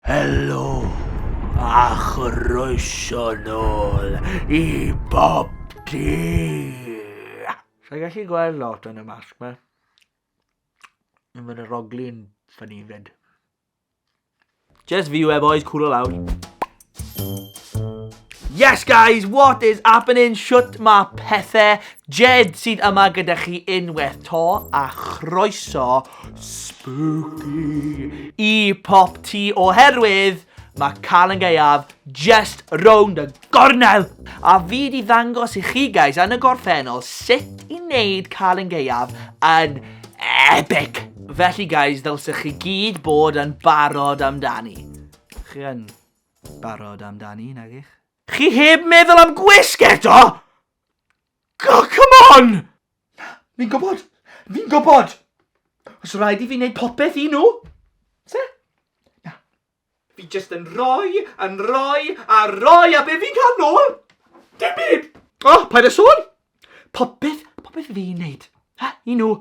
Helo a chroeso nôl i Bob Tŷ! Sa i'n gallu gweld lot yn y masg ma. Yn fy rogli'n ffynnu fyd. Just view e boys, cool o lawr. Yes guys, what is happening? Shut ma pethau? Jed sydd yma gyda chi unwaith to a chroeso Spooky! I pop ti oherwydd mae Calan Gaeaf just rownd y gornel! A fi di ddangos i chi guys yn y gorffennol sut i wneud Calan Gaeaf yn epic! Felly guys, ddylsech chi gyd bod yn barod amdani. Chi yn barod amdani, nagych? Chi heb meddwl am gwisg eto? Oh, come on! Na, fi'n gwybod. Fi'n gwybod. Os rhaid i fi wneud popeth i nhw. Se? Na. Fi jyst yn rhoi, yn rhoi, a rhoi, a be fi'n cael nôl? Dim byd! O, oh, paid â sôn! Popeth, popeth fi'n wneud. Ha, i nhw.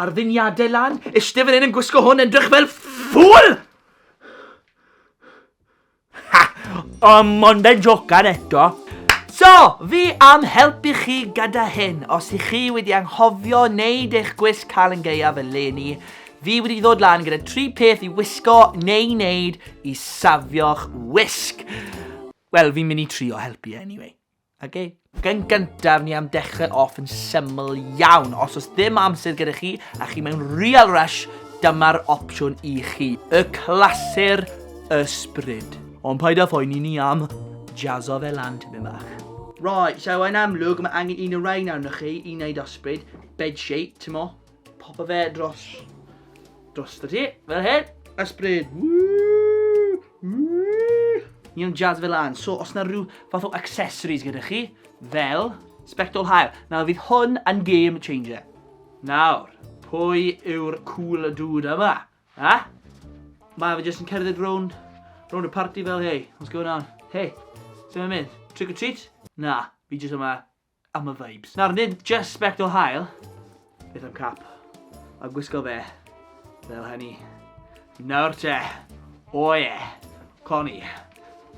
Ar ddiniadau lan, eistedd fan hyn yn gwisgo hwn, edrych fel ffŵl! Ha! O, mon ben jocan eto. So, fi am helpu chi gyda hyn, os i chi wedi anghofio neud eich gwisg cael yn geiaf eleni, fi wedi ddod lan gyda tri peth i wisgo neu neud i safio'ch wisg. Wel, fi'n mynd i trio helpu e anyway. Oce. Gan gyntaf, ni am dechrau off yn syml iawn. Os oes ddim amser gyda chi, a chi mewn real rush, dyma'r opsiwn i chi. Y clasur ysbryd. Ond paid â phoeni ni am jazzo fe lan tipyn bach. Right, so yn amlwg, mae angen un o rhain arnoch chi i wneud ysbryd. Bed shape, timo. Popo fe dros... Dros y ti, fel hyn. Ysbryd. Ni am jazz fel an. So, os na rhyw fath o accessories gyda chi, fel spectol hael. Nawr, fydd hwn yn game changer. Nawr, pwy yw'r cool dude yma? Ha? Mae fe jyst yn cerdded rown, rown y party fel, hey, what's going on? Hey, sy'n mynd? Trick or treat? Na, fi jyst yma am y vibes. Nawr, nid just sbectol hael, beth am cap, a gwisgo fe fel hynny. Nawr te, o ie, cloni,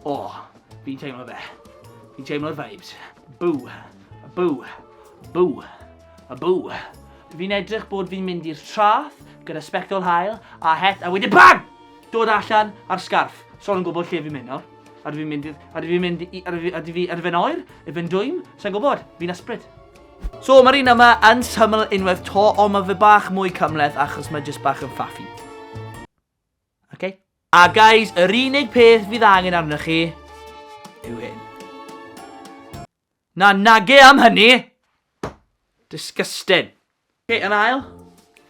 o, fi'n teimlo fe, fi'n teimlo'r vibes, bw, bw, bw, a bw. Fi'n edrych bod fi'n mynd i'r trath gyda sbectol hael a het a wedyn BANG! Dod allan a'r sgarff. Sol yn gwybod lle fi'n mynd nawr. A dwi mynd i... A dwi mynd i... A dwi... A dwi... A dwi fe'n oer? A fe'n dwym? Sa'n gwybod? Fi'n ysbryd. So, mae'r un yma yn syml unwaith to, ond mae fe bach mwy cymleth achos mae jyst bach yn ffaffi. Okay. A guys, yr unig peth fydd angen arnoch chi yw hyn. Na nage am hynny! Disgusting. Ok, yn ail.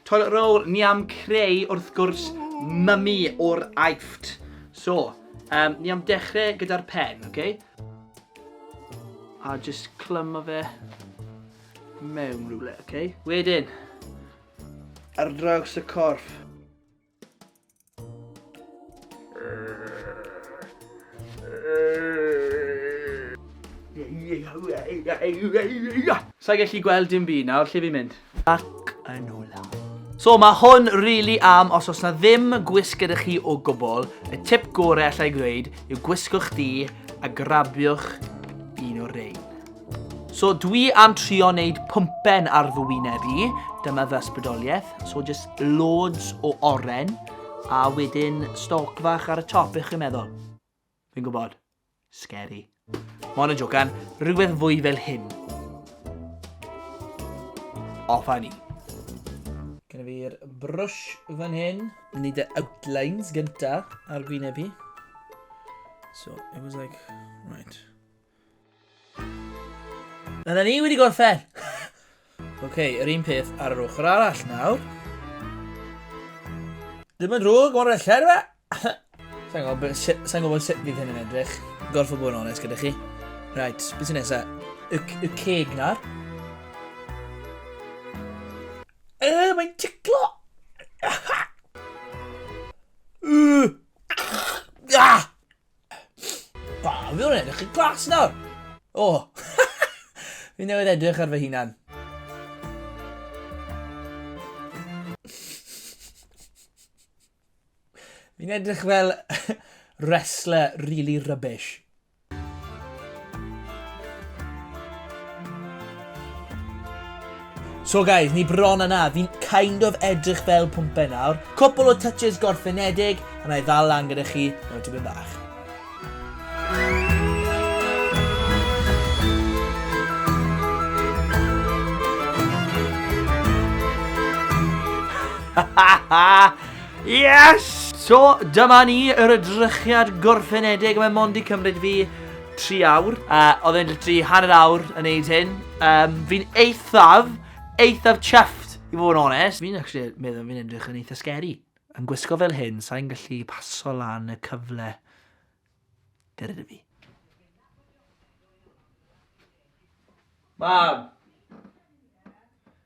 Toilet roll ni am creu wrth gwrs mummy o'r Aifft. So, um, ni am dechrau gyda'r pen, ok? A just clymu fe mewn rhywle, ok? Wedyn, ar draws y corff. Sa'i gallu gweld dim byd nawr, lle fi'n mynd? Ac yn ola. So mae hwn really am os oes na ddim gwisg gyda chi o gwbl, y tip gorau allai ddweud yw gwisgwch di a grabiwch un o'r rein. So dwi am trio wneud pwmpen ar fy wyneb i, dyma fy ysbrydoliaeth. So just loads o oren, a wedyn stoc fach ar y top, bych chi'n meddwl? Fi'n gwybod, scary. Mon yn jocan, rhywbeth fwy fel hyn. Off a ni. Gynna fi'r brush fan hyn. Ni dy outlines gynta ar gwyneb i. So, it was like, right. Na, na ni wedi gorffen! Oce, okay, yr un peth ar yr ochr arall nawr. Ddim yn drwg, mor fellau, dwi e? Sa'n gwybod sut fydd hyn yn edrych. Gorffa bod yn onest gyda chi. Right, beth sy'n nesaf? Y, y ceg na. E, mae'n ticlo! Ah! Ba, fi o'n edrych yn glas nawr. O, oh. fi newydd edrych ar fy hunan. Fi'n edrych fel wrestler really rubbish. So guys, ni bron a na, fi'n kind of edrych fel pwmpen nawr. Cwpl o touches gorffenedig, a na i ddal lan gyda chi mewn tipyn bach. yes! So, dyma ni, yr edrychiad gorffenedig, mae Mondi cymryd fi tri awr. Uh, oedd e'n literally hanner awr yn neud hyn. Um, fi'n eithaf, eithaf chuffed, i fod yn onest. Fi'n actually meddwl fi'n edrych yn eitha scary. Yn gwisgo fel hyn, sa'n gallu paso lan y cyfle. Dyr ydw fi. Mam!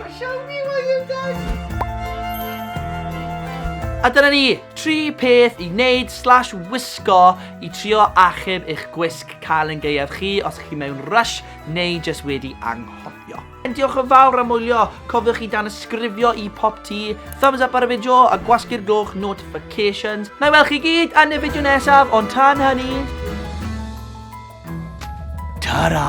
Mae siawns i fod yn deg! A dyna ni, tri peth i wneud slash wisgo i trio achub eich gwisg cael yn gaeaf chi os chi mewn rush neu jyst wedi anghofio. Yn diolch yn fawr am wylio, cofiwch i dan ysgrifio i pop ti, thumbs up ar y fideo a gwasgu'r gloch notifications. Na i weld chi gyd yn y fideo nesaf, ond tan hynny... Ta-ra!